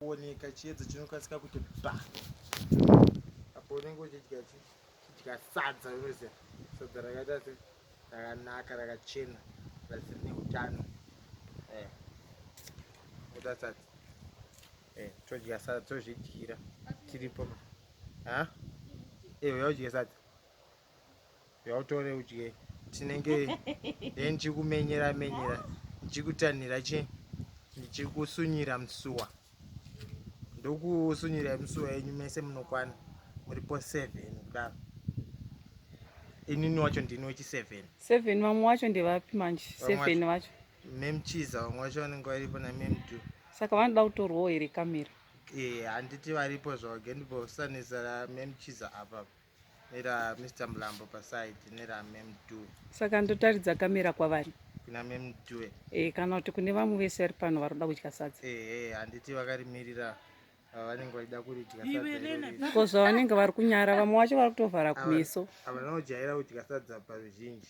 kuoneka chiedza chinokasika kuti pa apo unenge uchidya chidya sadza unoziva sadza rakaita se rakanaka rakachena rasiri neutano eh, kuda sadza eh, todya sadza tozvidyira tiripo ha ewe yaudya sadza yautore udye tinenge then chikumenyera menyera chikutanhira chi ndichikusunyira musuwa ndokusunyira musuwa yenyu mese munokwana muripo seven kudaro inini wacho ndini wechi seven seven vamwe wacho ndevapi manje seven vacho memchiza vamwe vacho vanenge varipo namemtu saka vanoda kutorwawo here kamera ee eh, handiti varipo zvavo gendibosanisa ramemchiza apapa nera Mr Mlambo paside nera Mem Due. Saka ndotaridza kamera kwavari kuna Mem Due e, kana kuti kune vamwe vese vari pano varoda kudya sadza ehe handiti vakarimirira vanenge vaida kuridya sadza ko zvavanenge vari kunyara vamwe vacho vari kutovhara kumeso ava vanojaira kudya sadza paruzhinji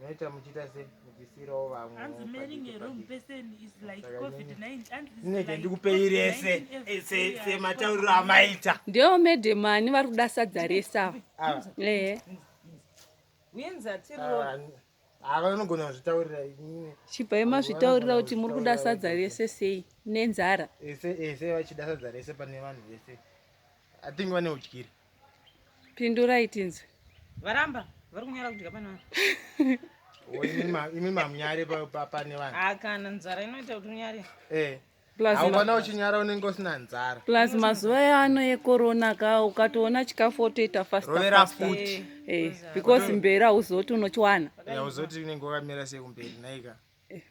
Meta muchita sei muchisiirawo vamwe. Hanzi marrying a wrong person is like COVID-19. Ndinenge ndikupei rese sematauriro amaita. Ndiwo madam ani vari kuda sadza rese ava. Ah. Ehe. Winza tiro. Ah, ah, ava vanogona kuzvitaurira inini. Chibvai mazvitaurira kuti muri kuda sadza rese sei nenzara. Ese ese vachida sadza rese pane vanhu vese. I think vane udyire. Pindurai tinzwe. Varamba vari kunyara kudya pane vanhu. Imi mamunyare pane vanhu. Ah kana nzara inoita kuti unyare. Eh. Haukona uchinyara unenge usina nzara. Plus mazuva yaano yekorona ka ukatoona chikafu wotoita fast Rovera futi. Eh, eh because mbera uzoti unochiwana. Eh, uzoti unenge wakamira sei kumberi naika.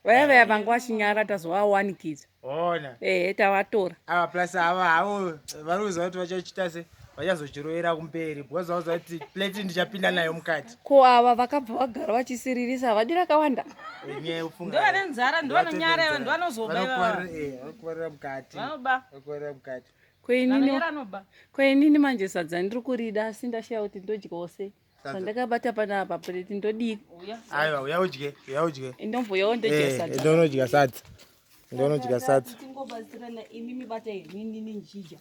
vaya vaya vanga vachinyara tazovawanikidza ona ehe tavatora ava plus ava havo varikuziva kuti vachachita se vachazochirovera kumberi because vauziva kuti plate ndichapinda nayo mukati ko ava vakabva vagara vachisiririsa havadi rakawanda Enye ufunga- Ndovane nzara, ndovane Ndovatoita nyara, nzara. ndovanozoba ivava. Vanokuvarira- eh, vanokuvarira mukati Vanoba. vanokuvarira mukati koinini Vanonyara anoba. koinini manje sadza ndiri kurida asi ndashaya kuti ndodyawo sei pandakabata panapa preti ndodii aiwa uya udye uya udye indomvuyawo ndodyasadonodya eh, sadza ndonodya sadza tingobatsirana imi mibata inini ninjija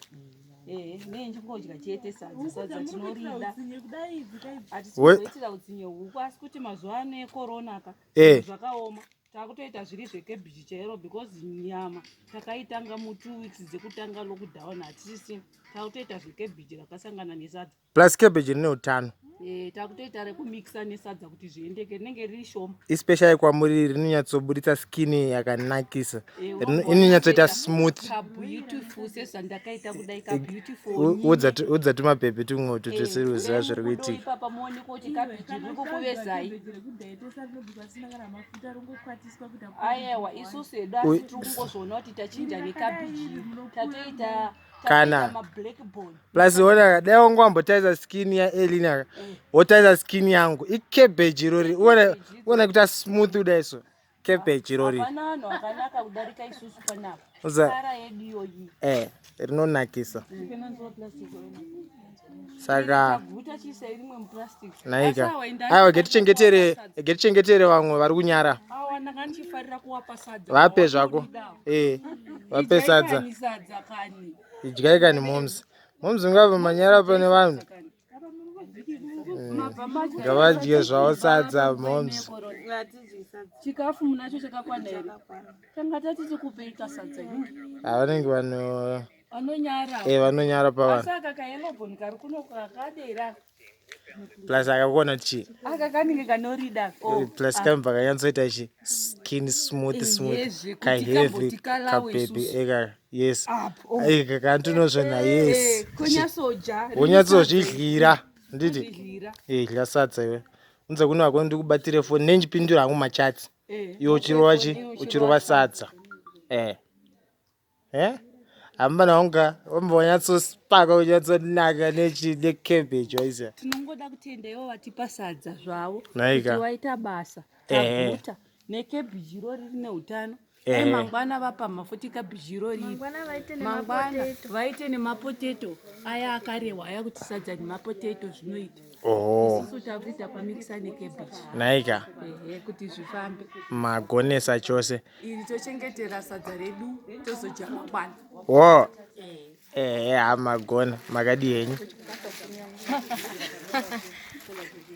eh, ne ndingodya chete sadza sadza tinorida hatizoitira utsinye huku asi kuti mazuva ano ekorona ka eh. zvakaoma takutoita zviri zvekebhiji chairo because nyama takaitanga mu two weeks dzekutanga lockdown hatisi takutoita zvekebhiji rakasangana nesadza plus cabbage rine utano eh, takutoita rekumixa nesadza kuti zviendeke rinenge riri shoma ispecial yekwamuri rinonyatsoburitsa skin yakanakisa eh, inonyatsoita smooth udza tumapepe tumwe utu tisiri kuziva zviri kuitika ayewa isusu hedu asi tiri kungozviona kuti tachinja nekabhiji tatoita kana plus ona dai wangu wambotarisa skin yaelina eh. wotarisa skin yangu icabbage irori uone kuita smooth kudai so cabbage irori eh, rinonakisa mm. saka naika aiwa getichengetere getichengetere vamwe vari kunyara vape zvako eh vape sadza idyai kani moms moms ngava manyara pane vanhu ngavadye eh, zvavo sadza moms chikafu munacho chakakwana here tanga tati tikupei kasadza havanenge vano vanonyara eh vanonyara pavanhu saka kayelobon kari kuno kakadera plus akakuona kuti chii aka kanenge kanorida oh, eh, plus ah. kamva kanyatsoita chi skin smooth eh, smooth kaheavy kapepi eka eh, yes eka kantinozvena yes wonyatsozvidlira nditi idlya sadza iwe unze kuno wako ndikubatire foni nenjipindura hangu machatsi iwe uchirova chi uchirova sadza eh eh hamuna wanga wambonyatsosipaka unyatsonaka necabbage waisa tinongoda kutenda ivo vatipa sadza zvavo kuti waita basa taguta necabbage iro riri neutano dai mangwana vapa mafuti cabbage iro riri mangwana vaite nemapotato aya akarehwa aya kuti sadza nemapotato zvinoita Oho. Isusu takuita pamikisa nekebichi. Naika. Ehe kuti zvifambe. Magonesa chose. Iri tochengetera sadza redu tozodya mangwana. Wo. Eh, eh, magona makadii henyu?